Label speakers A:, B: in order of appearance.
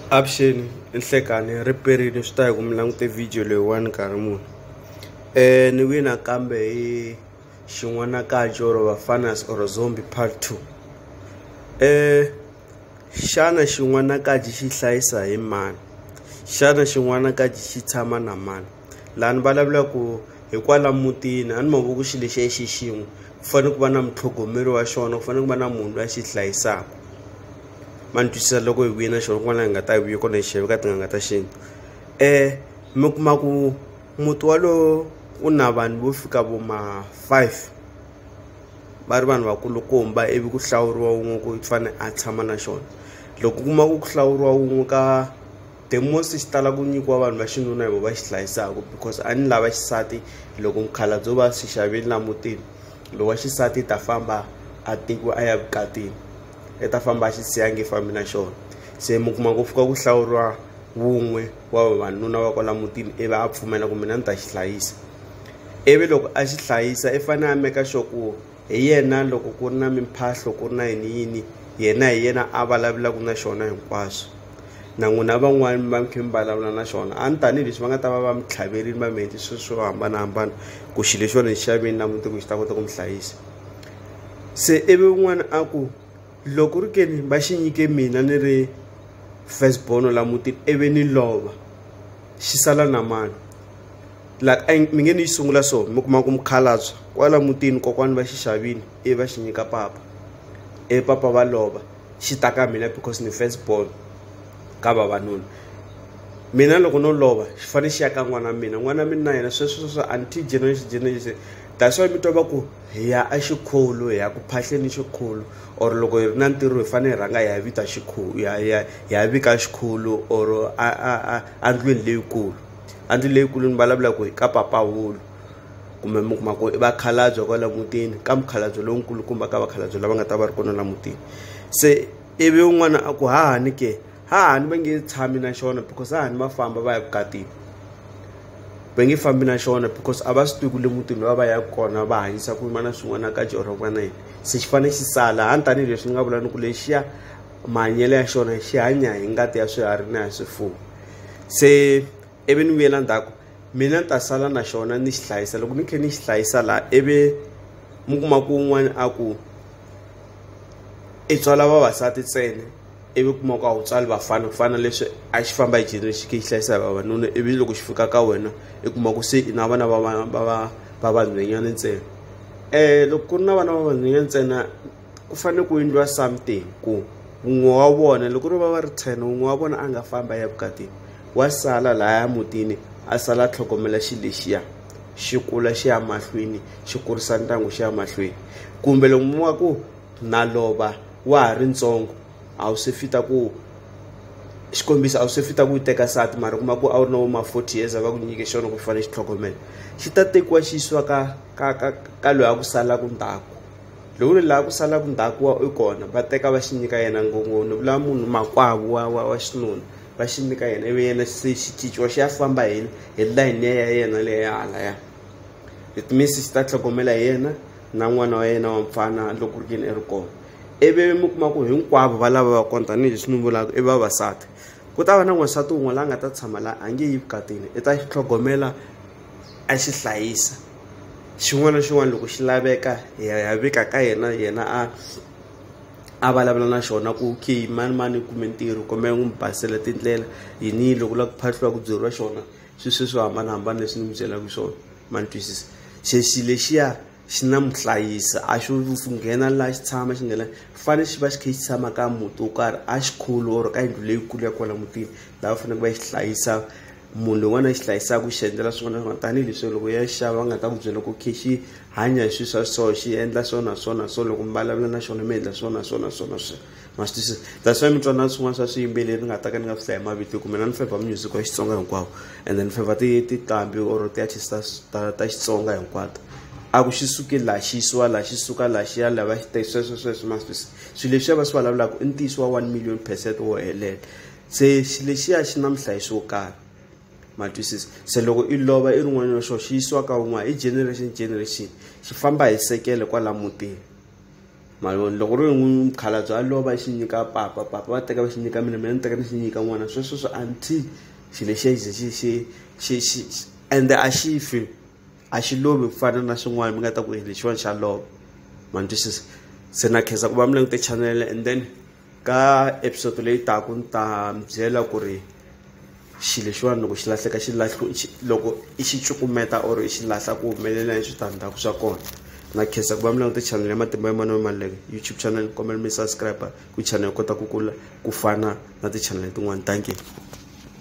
A: avuxeni i nhlekani ri perile swi ta hi ku mi langute video leyiwani nkarhi muni um ni wina kambe hi xin'wanakaji or vafanas or zombi part two um xana xin'wanakaji xi hlayisa hi mani xana xin'wanakaji xi tshama na mani laha ni vulavula ku hikwala mutini a ni mavoko xi lexi ya xi xin'we ku fanele ku va na mutlhogomeri wa xona ku fanele ku va na munhu loyi a xi hlayisaka ma ni twisisa loko hi vuye na xona kun'wana laha hi nga ta hi vuye kona hi xiyeve ka tin'anga ta xintu um mi kuma ku muti walowo u na vanhu vo fika vo ma five va ri vanhu vakulukumba ivi ku hlawuriwa wun'we ku fane a tshama na xona loko u kuma ku ku hlawuriwa wun'we ka. the most xi tala ku nyikiwa vanhu va xinuna hi vo va xi hlayisaka because a ni lava xisati loko mukhalabye o va swi xaveli la mutini lowu wa xisati i ta famba a tekiwa a ya vukatini i ta famba a xi siya nge fambi na xona se mi kuma ku fika ku hlawuriwa wun'we wa vavanuna va kwala mutini ivi a pfumela ku mina ni ta xi hlayisa ivi loko a xi hlayisa i fanele a meka sure ku Hi yena, loko ku ri na mimphahlo, ku ri na yini-yini, yena hi yena a vulavulaka na xona hinkwaswo. Na n'wina van'wana mi va mi kha mi vulavula na xona, a ni tanihi leswi va nga ta va va mi tlhaverile, va mi endle swilo swo hambanahambana ku xilo lexiwani ni xi xavile na mundzuku xi ta kota ku mi hlayisa. Se ivi un'wana a ku, loko ri ke ni va xi nyike mina ni ri first born la mutini ivi ni lova, xi sala na mani? like a mi nge ni yi sungula so mi kuma ku mukhalabye kwala mutini kokwani va xixavini i va xi nyika papa e papa va lova xi ta ka mina because ni first born ka vavanuna mina loko no lova xi fanele xi ya ka n'wana mina n'wana mina na yena sweswo sweswo until generation generation that's why mi twa va ku hi ya a xikhulu hi ya ku phahleni xikhulu or loko hi ri na ntirho hi fanele hi rhanga hi ya vita xikhulu hi ya vika xikhulu or a a a a ndlwini leyikulu a ndzi leyikulu ni vulavula ku hi ka papahulu kumbe mi kuma ku i vakhalabye kwala mutini ka mukhalabye lonkulukumba ka vakhalabye lava nga ta va ri kona la mutini se ivi un'wana a ku hahani ke hahani va nge tshami na xona because hahani va famba va ya vukatini va nge fambi na xona because a va swi tivi ku le mutini va va ya kona va hanyisa ku yima na swin'wana ka jehova ku va na yini se xi fanele xi sala hani tanihileswi ni nga vula ni ku lexiya mahanyelo ya xona xi hanya hi ngati ya swiharhi na ya swifuwo se ivi ni vuyela ndzhaku mina ni ta sala na xona ni xi hlayisa loko ni tlhe ni xi hlayisa laha ivi mi kuma ku un'wana a ku i tswala vavasati ntsena ivi kuma ku a wu tswali vafana ku fana leswi a xi famba hi generation xi hlayisa hi vavanuna ivi loko xi fika ka wena i kuma ku se i na vana va va va va va vanhwenyana ntsena um loko ku ri na vana va vanhwenyana ntsena ku fanele ku endliwa something ku wun'we wa vona loko ri va va ri ten wun'we wa vona a nga famba ya vukatini wa sala lahaya mutini a sala a tlhogomela xi lexiya xi kula xi ya mahlweni xi kurisa ndyangu xi ya mahlweni kumbe loko mi wa ku na lova wa ha ri ntsongo a wu se fita ku xikombiso a wu se fita ku yi teka sati mara kuma ku a wu ri na vo ma forty years a va ku nyike xona ku xi fanele xi tlhogomela xi ta tekiwa xi yisiwa ka ka ka ka loyi a ku salaka ndzhaku lowu ri laha ku salaka ndzhaku wa i kona va teka va xi nyika yena ngopfu ni vula munhu makwavo wa wa wa xinuna va xi nyika yena ivi yena se xi cinciwa xi ya famba hi hi layini ya yena leyi ya hala ya it means xi ta tlhogomela hi yena na n'wana wa yena wa mfana loko ri yini i ri kona ivi mi kuma ku hinkwavo va lava va kona tanihileswi ni vulaka i vavasati ku ta va na n'wansati wun'we la nga ta tshama la a nge yi vukatini i ta xi tlhogomela a xi hlayisa xin'wana na xin'wana loko xi laveka hi ya ya vika ka yena yena a a vulavula na xona ku okay mani mani u kume ntirho kombela n'wi mi basela tindlela yini loko u lava ku phahliwa ku byeriwa xona swi sweswi swo hambanahambana leswi ni mi byelaka swona ma ni twisisa xe xi lexiya xi na muhlayisi a xo nghena laha xi tshama xi nghena fane xi va xi kha xi tshama ka muti wo karhi a xikhulu or ka yindlu leyikulu ya kwala mutini laha va faneleke va yi hlayisa munhu lowun'wana a xi hlayisaka xi endlela swin'wana swin'wana tanihileswi loko ya xava va nga ta ku byela ku khe xi hanya hi swilo swa so xi endla so na so na so loko mi vulavula na xona mi endla so na so na so na so ma swi twisisa that's why mi twa na swin'wana swa swiyimbeleri ni nga ta ka ni nga swi hlayi mavito kumbe na ni feva music wa xitsonga hinkwawo and then ni feva ti tiqambi or ti-artist ta ta ta xitsonga hinkwato a ku xi suke laha xi yisiwa laha xi suka laha xi ya laha va xi teka sweswo sweswo ma swi twisisa swilo leswi ya va swi vulavulaka i ntiyiso wa one million percent wo helela se xi lexiya xi na muhlayisi wo karhi ma twisisa se loko i lova i ri n'wana wa xo xi yisiwa ka wun'wana i generation generation xi famba hi sekele kwala mutini maloni loko ri n'wi mukhalabye a lova xi nyika papa papa va teka va xi nyika mina mina ni teka ni xi nyika n'wana sweswo swi until xi lexiya xi xi xi xi xi ende a xi fi a xi lovi ku fana na swin'wana mi nga ta ku lexiwani xa lova ma ni twisisa se na khensa ku va mi langute chanele and then ka episode leyi taka ni ta mi byela ku ri xilo lexiwani loko xi lahleka xi lahlu loko i xi cukumeta or i xi lahla ku humelela hi switandzhaku swa kona na khensa ku va mi langute channel ya matimba ya mano maleke youtube channel kombela mi subscribe ku channel yi kota ku kula ku fana na ti-channel tin'wani thank you